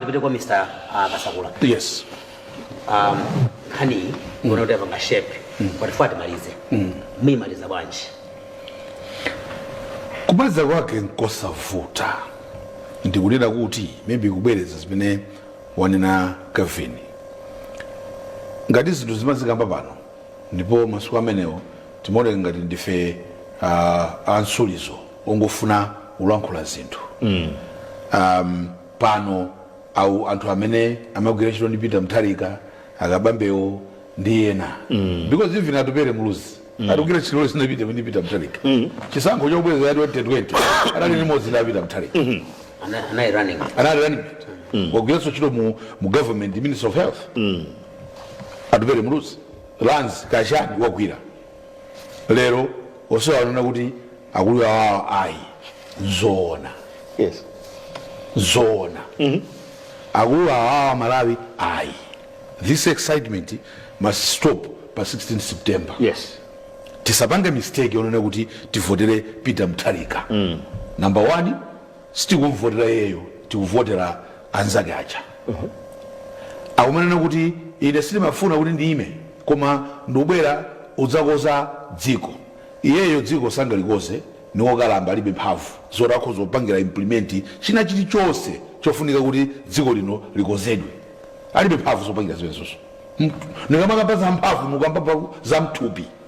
ndipite kwa mr ah, kasakula yes um, nkhaniyi ndikuona kuti yapanga shape patifuna timalize tiyimaliza bwanji kumaliza kwake nkosavuta ndikunena kuti maybe kubwereza zimene wanena kevin ngati zinthu timazikamba pano ndipo masiku amenewo timaoneka ngati ndife uh, a nsulizo ongofuna kulankhula zinthu mm. um, pano awo anthu amene amagwira ntchito ndi Peter Mutharika akabambewo ndi ena mm. because even atupere muluzi mm. wagwira ntchito zina Peter ndi Peter Mutharika mm. chisankho chobwereza cha 2020 anali limodzi ndi Peter Mutharika mm -hmm. anali running anali running mm. wagwira ntchito mu, mu government minister of health mm. atupere muluzi lands kaya chani wagwira lero onse wanena kuti akuluwawa ayi nzoona yes zoona akuluwawa a Malawi ayi this excitement must stop pa 16 september yes tisapange mistake yonena kuti tivotere peter mutharika mm. number one Sitikumvotera iyeyo tikuvotera anzake aja akumanena kuti ine sindimafuna kuti ndiime koma ndikubwera udzakonza dziko. Iyeyo dziko sangalikonze niwokalamba alibe mphamvu zoti akhoza kupangira implement china chilichonse chofunika kuti dziko lino likonzedwe. Alibe mphamvu zopangira zimenezozo. Nikamakamba za mphamvu ndikukamba za mthupi.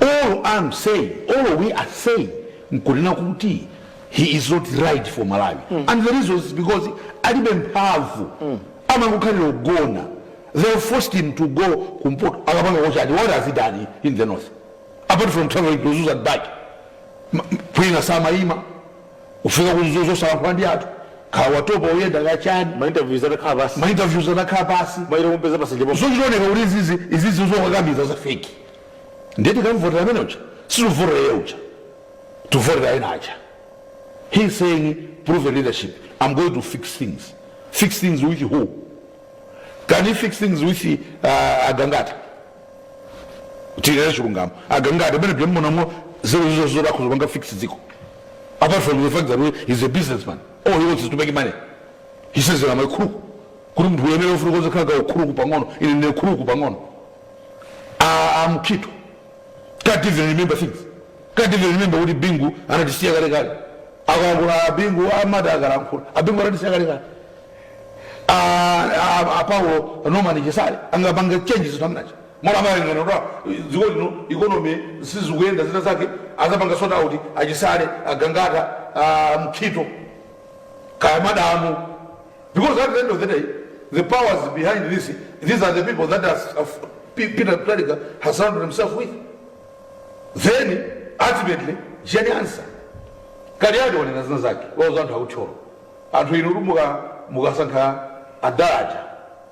All I'm saying, all we are saying, nkunena kuti he is not right for Malawi. Mm. And the reason is because alibe mphamvu. Mm. Amangokhalira ugona. They forced him to go kumpoto. Akapangako chani. What has he done in the north? Apart from traveling to Mzuzu and back. Kwina samaima. Ufika ku Mzuzu osalankhula ndi anthu. Kaya watopa uyenda kaya chani. Ma interviews atakhala basi. Ma interviews atakhala basi. Ma ilo kumpeza pasenje. Zochita kuoneka kuti izizi izizi zokakamiza za fake. ndiye tikamvotera amene uja sitikuvotera iye uja tikuvotera ena aja he is saying proven leadership i'm going to fix things fix things with who can he fix things with uh, agangata tinene chilungamo agangata amene pamene munamo zero zoti akhoza kupanga fix dziko apart from the fact that he's a businessman all he wants is to make money he says that i'm a crook kuti munthu uyenera ufunika uzikhala ka ukuluku pang'ono ine ndine kuluku pang'ono a mukhito can't even remember things can't even remember kuti bingu anatisiya kale kale akalankhula abingu amati akalankhula abingu anatisiya kale kale apa ulo nomani chisale angapange chenji zinthu amene aja mwina amaganiza kuti dziko lino economy sizikuyenda zina zake azapanga sort out achisale agangata mukhito kaya madamu Because at the end of the day, the powers behind this, these are the people that has, uh, P- Peter Mutharika has surrounded himself with. Then, ultimately, Jane Ansah. Kaliati wanena zina zake, wauza anthu akutcholo. Anthu inu muka- mukasankha a Dalitso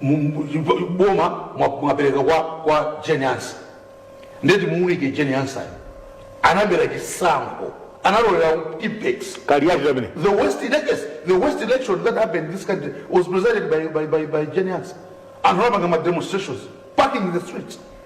mu- mu- mu- boma mwa- mwapereka kwa, kwa Jane Ansah ndeti muunike Jane Ansah anabera chisankho analolera Tippex kaliyati tamene the worst election the worst election that happened in this country was presided by by by, by Jane Ansah anthu anapanga ma demonstrations parking in the streets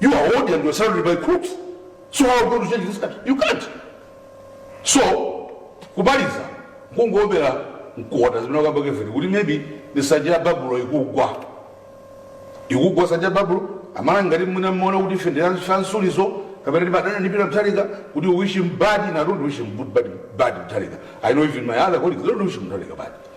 You are old and you're surrounded by crooks. So how are you going to change this country? You can't. So, kumaliza kungowombera mkota zimene akamba Kaliati kuti maybe ndi nsanja ya babulo ikugwa ikugwa nsanja ya babulo amwana ngati mwina mmaona kuti ife ndi la fansulizo kapena ndimadana ndi Peter Mutharika kuti wish him bad and i don't wish him good bad, bad Mutharika i know even my other colleagues they don't wish him Mutharika bad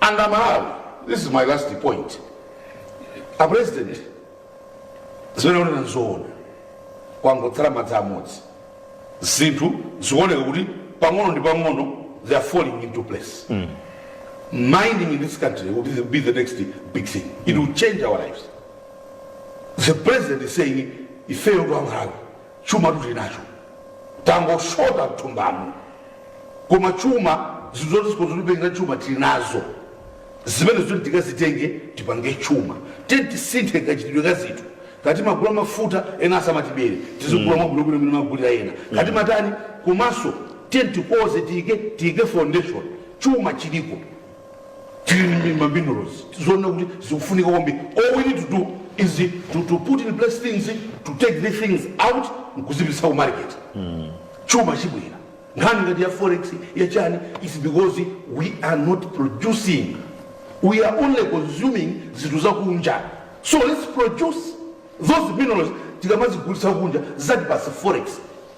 and amalawi this is my last point a president zimene akunena nzoona kwangotsala madzi amodzi zinthu zikuoneka kuti pang'ono ndi pang'ono they are falling into place mining in this country will be the, be the next big thing it will change our lives the president is saying ifeyo aMalawi Chumatu tili nacho tangoshota mthumbamu koma chuma zinthu zoti zikhoza kutipangila chuma tili nazo zimenezo tiyeni tikazitenge tipange chuma tiyeni tisinthe kachitidwe ka zinthu kaya timagula mafuta ena asamatibere tizigula mwabwinobwino mmene timagulira ena kaya timatani komanso tiyeni tikonze tiyike tiyike foundation chuma chiliko tili ndi ma minerals tizoone kuti zikufunika kwambiri all we need to do is to, to put in place things to take the things out nkuzipitisa ku market chuma chibwera nkhani ngati ya forex ya chani is because we are not producing we are only consuming zinthu zakunja so let's produce those minerals tikamazigulitsa kunja zatipatsa forex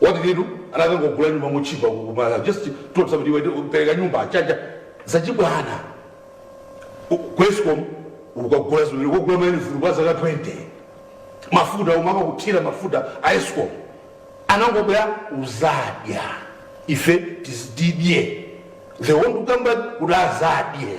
What did he do anakangogula nyumba motchipa kumala just told somebody iwe pereka nyumba a Chacha zachibwana ku escom ukagula zimene ukagula mayunifomu kwa zaka 20 mafuta omwe amakathira mafuta a escom anangobwera uzadya ife tizididye they want to come back kuti azadye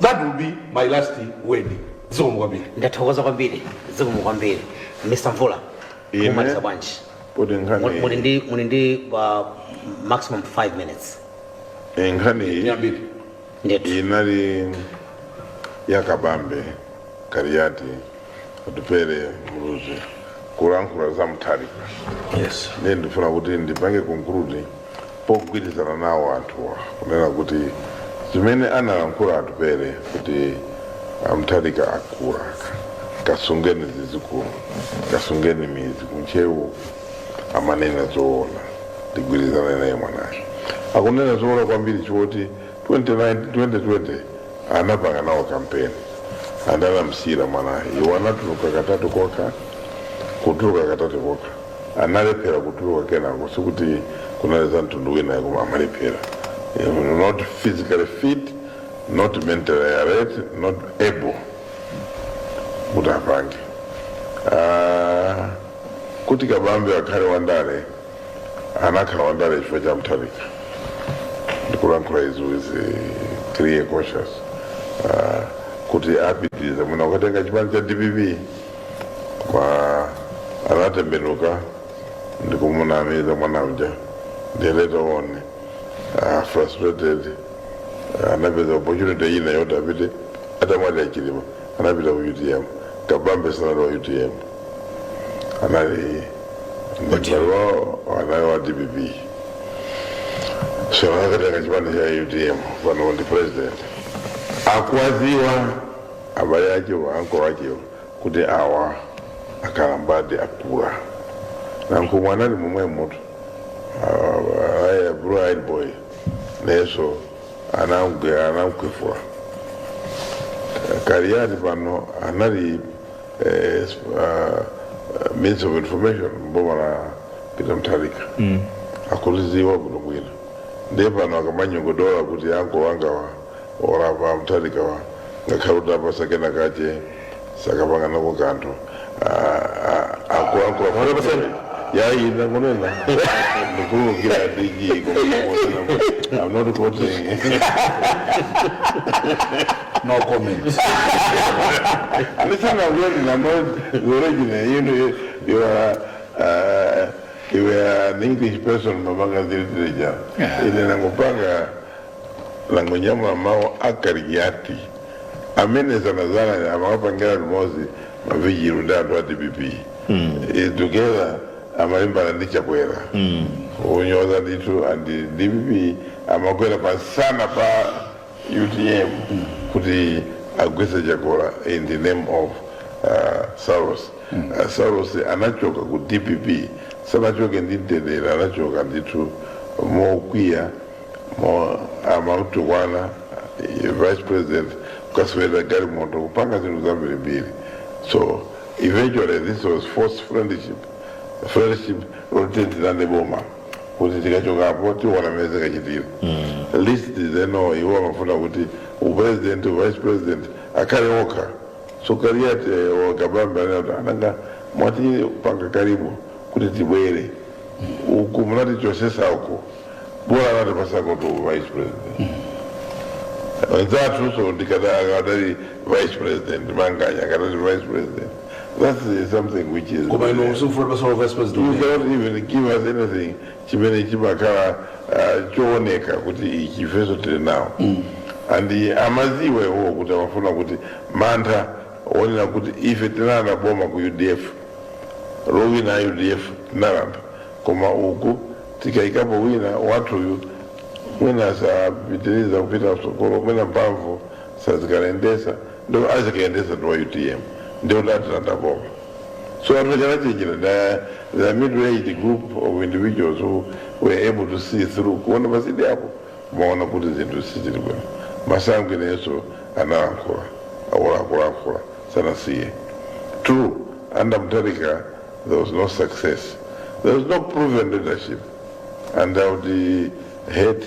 That will be my last word. Zikomo kwambiri. ndathokoza kwambiri zikomo kwambiri mr mvula Ine? mumaliza bwanji Kuti Muli- muli nkhani ndi muli ndi uh, maximum 5 minutes eh, nkhani iyi Yambiri. ndithu inali yakabambe Kaliati Atupele Muluzi kulankhula za Mutharika yes ndiye ndifuna kuti ndipange konkurudi pogwirizana nawo anthuwa kunena kuti zimene analankhula Atupele kuti a Mutharika akula kasungeni zidzukulu kasungeni mbuzi kuntchewu amanena zoona ndigwirizane naye mwanayo akunena zoona kwambiri choti 2020 anapanga nawo kampeni and anamsiyira mwana iwo anatuluka katatu kokha kutuluka katatu kokha analephera kutuluka kenako sikuti kunali za mtundu wina iyayi koma amalephera Eh, not physically fit not mentally alert not able kuti apange Ah, kuti kabambe akhale wandale anakhala wandale chifukwa cha Mutharika ndikulankhula izi with eh, clear conscience Ah, kuti a Peter ndi amene anakatenga chipani cha dpp koma anatembenuka ndikumunamiza mwana uja they later on uh, frustrated uh, anapeza opportunity ina yoti apite atamwalira a Chilima anapita ku utm kabambe sanali wa utm anali ndi malo anali wa dpp so anakatenga chipani cha utm pano ndi president akuwadziwa abale akewo anko akewo kuti awa akalambadi akula anko mwana ali momwemutu aye blue eyed boy nayenso anamgwe anamkhwefula kaliyati pano anali eh, uh, uh, minister of information mboma la Peter Mutharika mm. akulidziwa bwino bwino ndiye pano akamanyogodola kuti anko angawa okalamba Mutharika wa ngakhale mutawapatsa kena kake sangapange nako kanthu akulankhula yayi ndangonena ndikuwuzani dg koma i'm not quoting no comment listen I'm not the origin you know you, you are uh, you were an english person mumapanga literature Yeah. ine ndangopanga ndangonyamula mawu a Kaliati amene dzanadzana amakapangira limozi mavijilo ndi anthu a dpp Eh, together amalimbana ndi chakwera kunyoza ndithu and dpp amakwera pamsana pa utm kuti agwese Chakwera in the name of uh, saulos uh, saulos anachoka ku dpp sanachoke ndi mtendere anachoka ndithu mokwiya amamutukwana eh, vice president kukasweredwa galimoto kupanga zinthu zambirimbiri so eventually this was forced friendship friendship loti tilandane boma kuti tikachokapo tiona mmene zikachitira at least they know iwo amafuna kuti upresident uvice president akhale okha so kaliyati a Kabambe anati nanga mwati panga karibu kuti tibwere uku munatichosesa uko bola anatipasako u vice president anzathu so akadali vice president manganya akadali vice president That's uh, something which is. koma inu uh, simufuna kutipasa uvice president You cannot even give us anything chimene chimakhala uh, chooneka kuti ichi ifeso tili nawo and uh, amaziwa iwowo kuti amafuna kuti mantha onena kuti ife tinalanda boma ku udf lowina udf tinalanda koma uku tikayikapo wina wathuyu mwina sapitiriza kupita msogolo mwina mphamvu azikayendesa ndiye azikayendesa ndi wa utm ndiye atilanda boma so anthu anachenjera the, the middle aged group of individuals who were able to see through kuona patsidya apo amaona kuti zinthu sizili bwino masango inenso analankhula akulakulankhula sanasiye true under Mutharika there was no success there was no proven leadership and i would uh, hate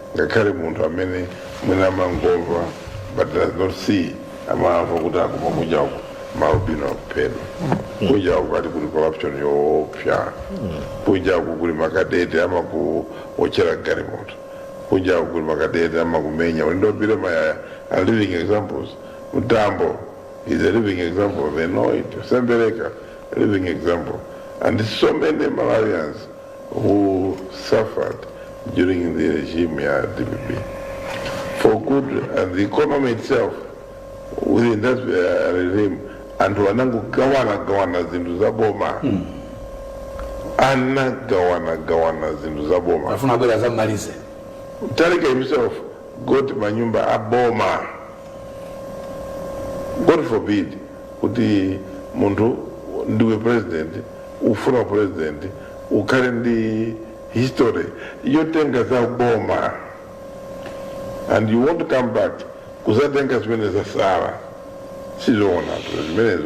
ngakhale munthu amene mwina amangomva but does not see amamva kuti akumva kunja uku malubino akuphedwa kunja uku akuti kuli corruption yoopsa kunja uku kuli makadete amakuotchera galimoto kunja uku kuli makadete amakumenya uli ndi Billy mayaya are living examples mtambo is a living example they know it sembereka a living example and so many malawians who suffered during the regime ya DPP for good and the economy itself within that uh, regime anthu anangogawana gawana zinthu za boma anagawana gawana zinthu za boma afuna abwera zammalize Mutharika himself got manyumba a boma god forbid kuti munthu ndiwe president ufuna president ukhale ndi history yotenga za boma and you want to come back kuzatenga zimene zasala sizoona zimenezo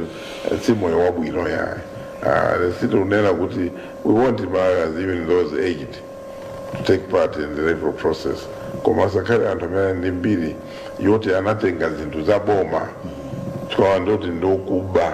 si moyo wabwino yaye uh, sitikunena kuti we want malawians even those aged to take part in the electoral process koma asakhale anthu amene ali ndi mbiri yoti anatenga zinthu za boma tikanena zoti ndokuba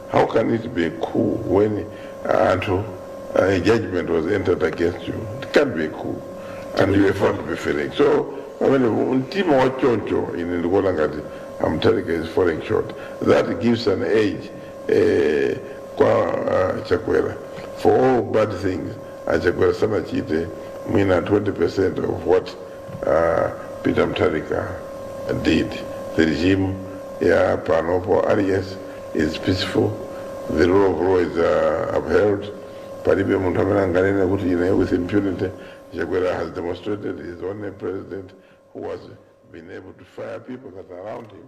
How can it be a coup when uh, Anto, uh, a judgment was entered against you? It can't be a coup. And you were found to be failing. So, I mean, mtima wa choncho ine ndikuona ngati amtalika is falling short. That gives an edge eh, kwa uh, Chakwera. For all bad things, uh, Chakwera sanachite mwina 20% of what uh, peter mutharika did the regime ya panopo aliyense is peaceful the rule of law is uh, upheld palibe munthu amene anganene kuti ine with impunity chakwera has demonstrated his only president who has been able to fire people that are around him